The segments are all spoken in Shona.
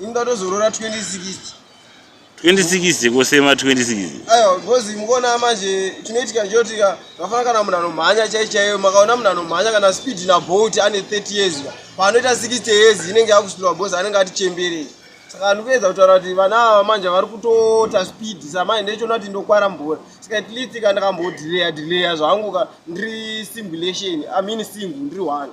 Inda tozorora 2060. 2060 kosema 2060. Ayo because mukona manje tinoitika njoti vafana kana munhu anomhanya chai chaiyo makaona munhu anomhanya kana speed na bolt ane 30 years ka. Panoita 60 years inenge yakusvira boss anenge ati chembere. Saka ndikuedza kutaura kuti vana ava manje vari kutota speed samai ndechona kuti ndokwara mbora. Saka at least ka ndakambodelayer delayer zvangu ka ndiri simulation. I mean single ndiri one.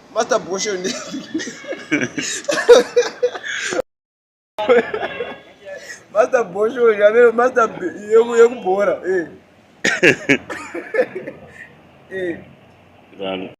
Master Bosho ndi. Master Bosho yavero Master yeku yekubhora eh. Eh. Rano.